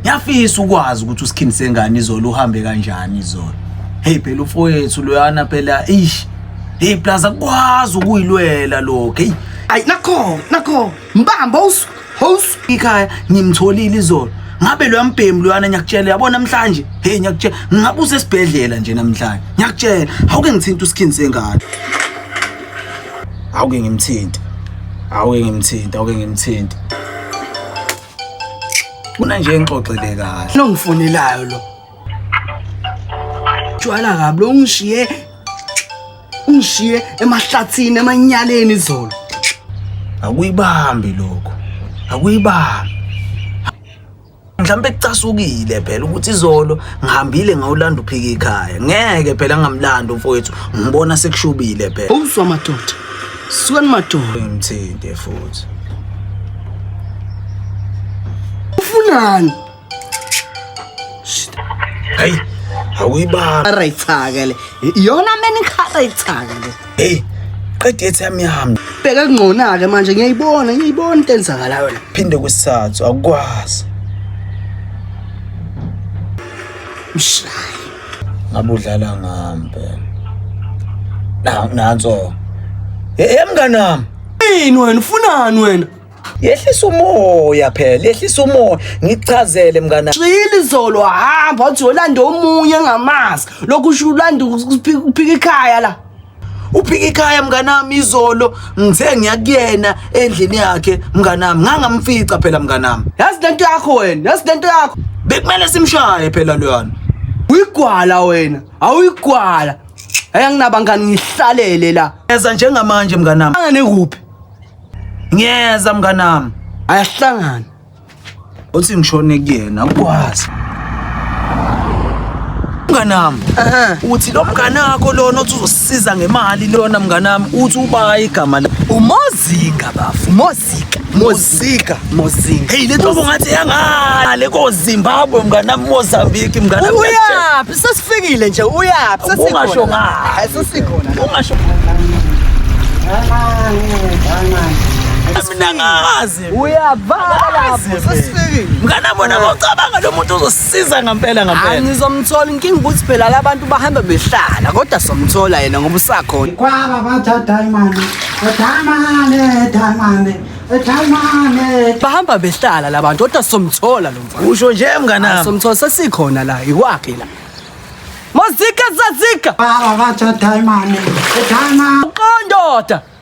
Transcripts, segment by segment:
Ngiyafisa ukwazi ukuthi uSkin sengane izolo uhambe kanjani izolo. Hey phela ufowethu loyana phela ish. Hey plus akwazi ukuyilwela lokho. Hey ay nakho nakho mbamba us house ikhaya ngimtholile izolo. Ngabe lo yambhemu loyana ngiyakutshela yabo namhlanje. Hey ngiyakutshela ngabe usesibhedlela nje namhlanje. Ngiyakutshela awuke ngithinta uSkin sengane. Awuke ngimthinta. Awuke ngimthinta, awuke ngimthinta. Funa nje ngixoxele kahle. Nongifonelayo lo. Tshwala kabi lo ngishiye ungishiye emahlathini emanyaleni izolo. Akuyibambi lokho. Akuyibambi. Mhlambe kucasukile phela ukuthi izolo ngihambile ngawulanda uphika ikhaya. Ngeke phela ngamlanda umfowethu. Ngibona sekushubile phela. Awuswa madoda. Sukani madoda ngithinte futhi. Ufunani? Hey, awuyibaba. Arayithaka le. Iyona mina ikharayithaka le. Hey, qede ethi yami yami. Bheka kungcona ke manje ngiyayibona, ngiyibona into enzakalayo la. Phinde kwesathu akwazi. Mshaya. ngabe udlala ngambe na nanso hey mngani wami yini wena ufunani wena yehlisa umoya phela yehlisa umoya ngichazele mngana xili izolo hamba wathi yolanda omunye engamazi lokhu usho ulanda uphika ikhaya la uphika ikhaya mnganami izolo ngithe ngiyakuyena endlini yakhe mnganami ngangamfica phela mnganami yazi lento yakho wena yazi lento yakho bekumele simshaye phela loyana uyigwala wena awuyigwala ayanginabangani ngihlalele la eza njengamanje mnganami angane kuphi ngiyeza mnganami ayahlangana uthi ngishone kuyena ukwazi mnganami uthi lo mngane wakho lona othi uzosiza ngemali lona mnganami uthi uba igama la umozinga bafu mozika mozika mozinga hey le ntobo ngathi yangale kozimbabwe mnganami mozambique mnganami uyaphi sesifikile nje uyaphi ungasho ngayo sesikhona ungasho mina ngazi uyavala lapho sesifikile mngana bona bocabanga lo muntu uzosisiza ngempela ngempela ngizomthola inkinga ukuthi phela labantu bahamba behlala kodwa somthola yena ngoba usakhona kwaba batha diamond diamond diamond bahamba behlala labantu kodwa somthola lo mfana usho nje mnganami somthola sesikhona la ikwakhe la mazika zazika baba batha diamond diamond qondoda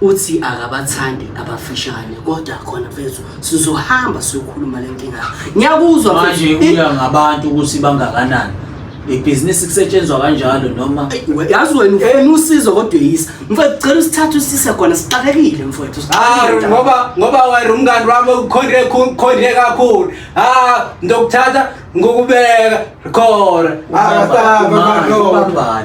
Uthi akabathandi abafishane kodwa khona mfethu sizohamba siyokhuluma le nkinga. Ngiyakuzwa manje uya ngabantu ukuthi bangakanani. Ibhizinisi kusetshenzwa kanjalo noma yazi wena ufuna usizo kodwa yisa. Mfethu cela usithathe usise khona sixakekile mfethu. Ah ngoba ngoba wena umngani wami ukhonde khonde kakhulu. Ah ndokuthatha ngokubeka khona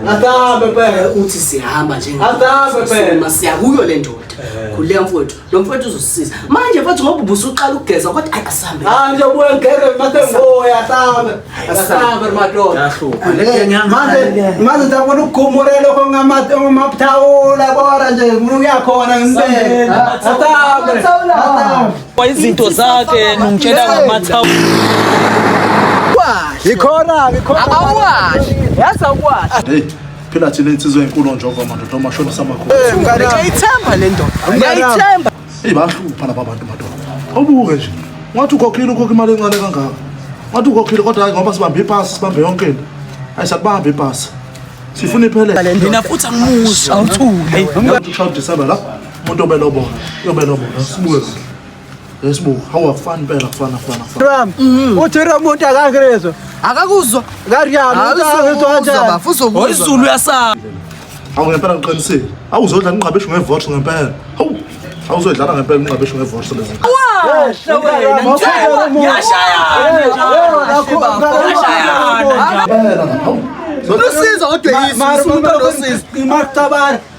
asambe phela uthi sihamba njengasambe phela siyakuyo le ndoda eh. khuleka mfowethu lo mfowethu uzosisiza manje mfowethu ngoba ubusuqala ukugeza kodwa ayi asambe manje ubuye ngigeze masengoya asambe asambe madoda manje ndabona ukugumule lokho ngamapthawula kora nje ngifuna ukuyakhona ngibeke asambe asambe Kwa izinto zakhe nungitshela ngamathawu. Ikhona, ikhona. Awashi. Yaza kwashi. Hey. Phela thina insizwe enkulu njengoba madoda omashona samakhulu. Ngiyayithemba le ndoda. Ngiyayithemba. Hey bahlupha laba bantu madoda. Awubuke nje. Ngathi ukhokhile ukhokha imali encane kangaka. Ngathi ukhokhile kodwa hayi ngoba sibambe ipasi, sibambe yonke into. Hayi sakubambe ipasi. Sifuna iphele. Mina futhi angimuzwa. Awuthule. Ngathi ushaya December la. umuntu obelobola uyobelobola sibuke yesibuka hawu akufani impela kufana kufana kufana mm-hmm. uthi lo muntu akakezwa akakuzwa kariyalo izulu uyasaba hawu ngempela ngiqinisile hawu uzodla ingqabeshu ngevotho ngempela hawu awuzodlala ngempela ingqabeshu ngevotho lezi yashayana lusizo kodwa yisi umuntu olosizo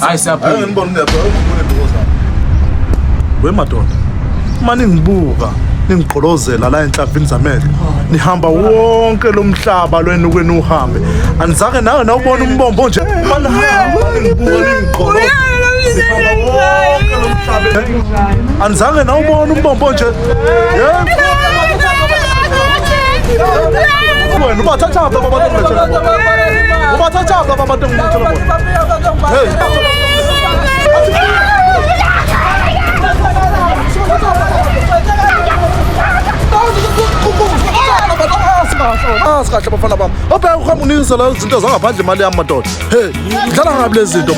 Hayi siyaphila. Hayi ngibona uyaphila ukubona ndokoza. Wemadoda. Uma ningibuka ningigqolozela la enhlavini zamehlo nihamba wonke lo mhlaba lwenu kwenu uhambe anizake nawe nawubona umbombo nje uma nihamba ningibuka ningigqoloza anizange nawubona umbombo nje wena ubathathaphi ababantu ubathathaphi ababantu kahle bafana bami obheka ukuhamba unikise la izinto zangaphandle imali yami madoda he ngidlala ngabi lezi zinto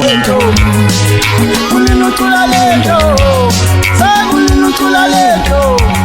kunenocula lento sekunenocula lento